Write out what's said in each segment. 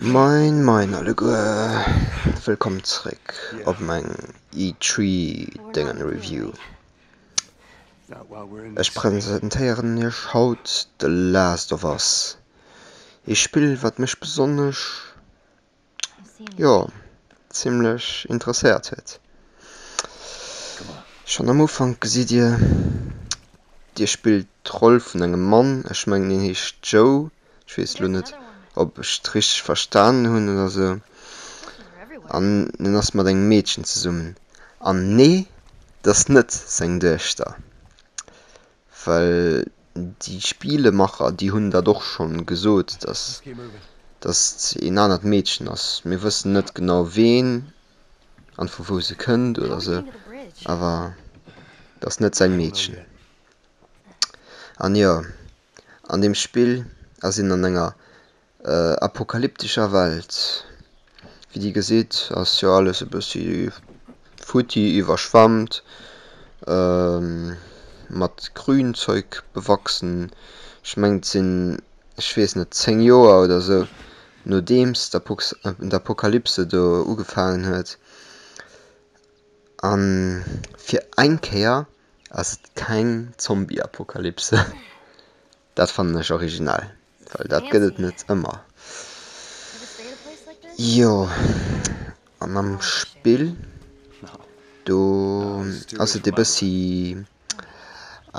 Moin moin alleguer, wëllkomm zréck op meng E-Tree Déngen Review. Ech presentéieren iech haut The Last of Us, ee Spill wat mech besonnesch jo zimlech interesséiert huet. Schonn am Ufank gesitt Dir, Dir spillt d'Roll vun engem Mann, ech mengen hien heescht Joe, ech weess elo net ob ech et richteg verstanen hunn oder esou, an en ass mat engem Meedchen zesummen, an nee, et ass net seng Duechter. Well déi Spielemacher, déi hunn dat och scho gesot, datt datt een anert Meedchen ass. Mir wëssen net genau ween an vu wou se kënnt oder esou, awer et ass net säin Meedchen. An jo, an deem Spill ass een an enger apokalyptescher Welt. Wéi Dir gesitt, ass jo alles e bëssi futti, iwwerschwammt, mat Grünzeug bewachsen. Ech meng et sinn, ech weess net, zéng Joer oder esou nodeems d'Apokalypse do ugefaangen huet. A fir eng Kéier ass et keng Zombie-Apokalypse. Dat fannen ech originell. Well dat gëtt et net ëmmer. Jo, an am Spill do ass et e bëssi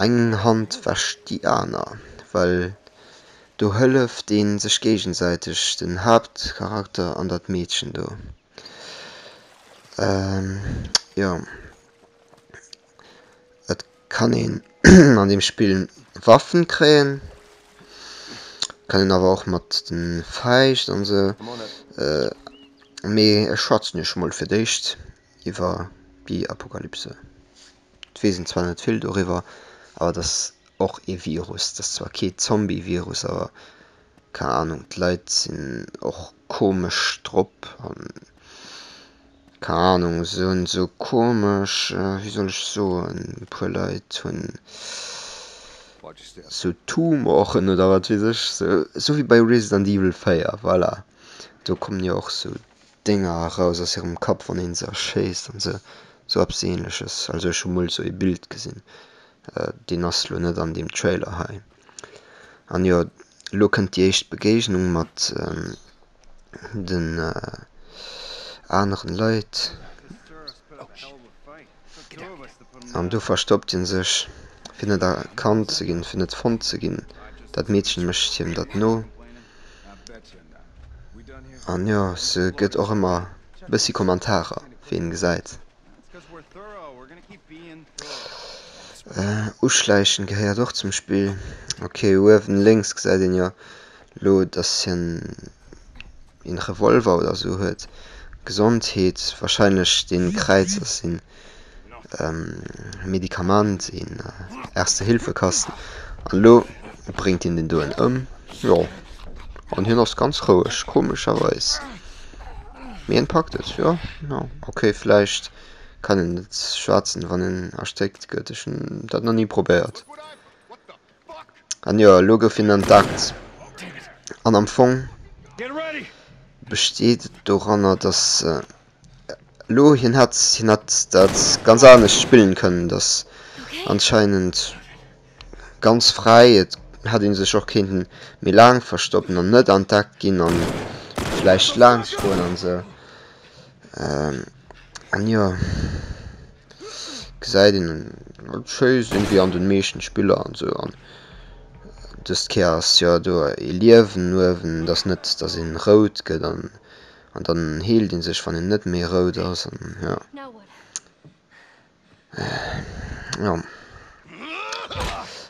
eng Hand wäscht déi aner, well do hëlleft ee sech géigesäiteg, den Haaptcharakter an dat Meedchen do. Jo. Et kann een an dem Spill Waffen kréien, kann een awer och mat den Fäischt an sou, mee ech schwatzen iech mol fir d'éischt iwwer déi Apokalypse. Et weess een zwar net vill doriwwer, awer et ass och ee Virus, et ass zwar kee Zombie Virus, awer keng Ahnung d'Leit sinn och komesch drop an. Keng Ahnung, se hunn esou komesch, wéi soll ech soen, e puer Leit hunn esou Tumoren oder wat weess ech, esou wéi bei Resident Evil 4, voilà, do kommen jo och esou Dénger eraus aus hirem Kapp, wann een se erschéisst an esou, esou eppes Ähnleches. Also ech hu mol esou ee Bild gesinn, deen ass lo net an deem Trailer hei. An jo, elo kënnt déi éischt Begéignung mat. den aneren Leit an do verstoppt hien sech fir net erkannt ze ginn, fir net fonnt ze ginn. Dat Meedchen mécht hiem dat no an jo se gëtt och ëmmer bëssi Kommentarer wéi een gesäit. Uschleichen gehéiert och zum Spill. Ok uewen lénks gesäit een jo lo dass hien een Revolver oder sou huet. Gesondheet wahrscheinlech den Kräiz ass een Medikamant een Erste Hilfe Kasten an lo bréngt hien den doen ëm jo an hien ass ganz roueg komescherweis. Mee en packt et, jo, jo. Ok, vläicht kann en et schwaatzen wann en erstéckt gëtt, ech hunn dat nach ni probéiert. An jo, elo gouf hien entdeckt. An am Fong besteet et doranner, dass elo hien hätt, hien hätt dat ganz anescht spillen kënnen, dass anscheinend. ganz fräi, et hätt ee sech och kéinten méi laang verstoppen an net entdeckt ginn a vläicht laanscht goen an esou. An jo, gesäit een et schéi sinn, wéi an den meeschten Spiller an esou. An dëst Kéier ass jo do ee Liewen uewen, et ass net dass een rout gëtt an dann heelt een sech wann een net méi rout ass an jo. Ja.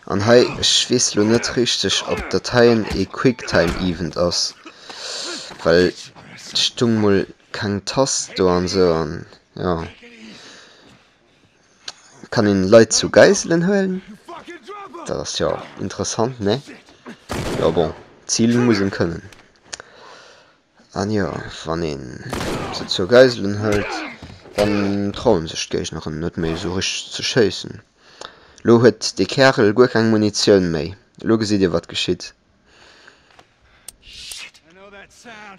An hei, ech weess lo net richteg, ob dat heien ee Quicktime Event ass, well et stung mol keng Tast do an esou. An jo, kann een Leit zu Geiselen huelen? Dat ass jo interessant, ne? Jo bon, zilen muss een kënnen. An jo, wann een se zur Geiselen hëlt, dann trauen sech d'Géigneren net méi esou richteg ze schéissen. Lo huet dee Kärel guer keng Munitioun méi. Lo gesitt dir wat geschitt.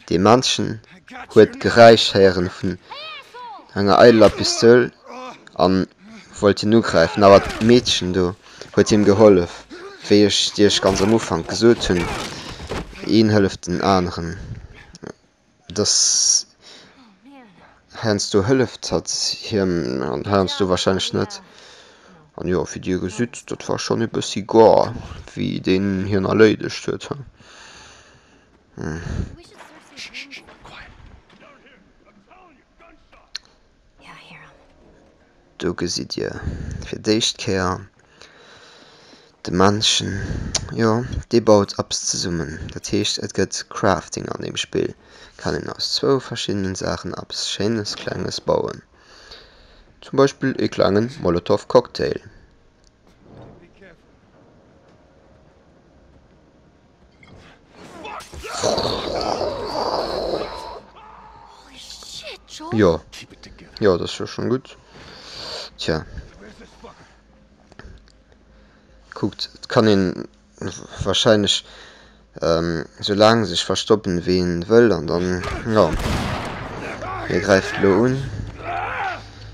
Dee Männchen huet d'Geräisch héieren vun enger eideler Pistoul an wollt hien ugräifen, awer d'Meedchen do. huet him gehollef, wéi ech Iech ganz am Ufank gesot hunn, een hëlleft den aneren. Dass heiansdo hëlleft hatt him an heiansdo warscheinlech net. An jo, wéi Dir gesitt, dat war schonn ee bëssi goar, wéi deen hien erléidegt huet. Do gesitt dir fir d'éischt Kéier de Männchen, jo, dee baut eppes zesummen. Dat heescht, et gëtt Crafting an deem Spill, kann een aus zwou verschiddenen Saachen eppes Schéines, Klenges bauen, zum Beispill ee klenge Molotov Cocktail. Jo Jo dat war schon gutt. Tja Kuckt et kann een wahrscheinlech ähm, sou laang sech verstoppen wéi een wëll an dann jo hie gräift elo un.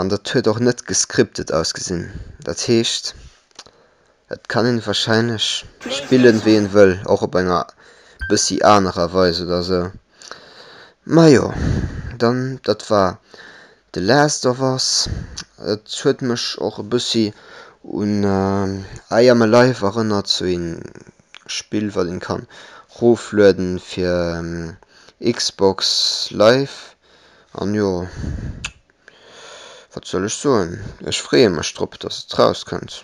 An dat huet och net gescriptet ausgesinn. Dat heescht, et kann een wahrscheinlech spillen wéi een wëll, och op enger bëssi anerer Weis oder sou. Majo, dann dat war The Last of Us. Et huet mech och e bëssi un I Am Alive erënnert, sou een Spill wat een kann roflueden fir Xbox Live An jo, wat soll ech soen, ech freeë mech drop, dass et rauskënnt.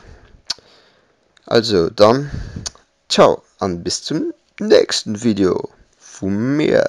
Also dann, ciao an bis zum nächsten Video vu mir.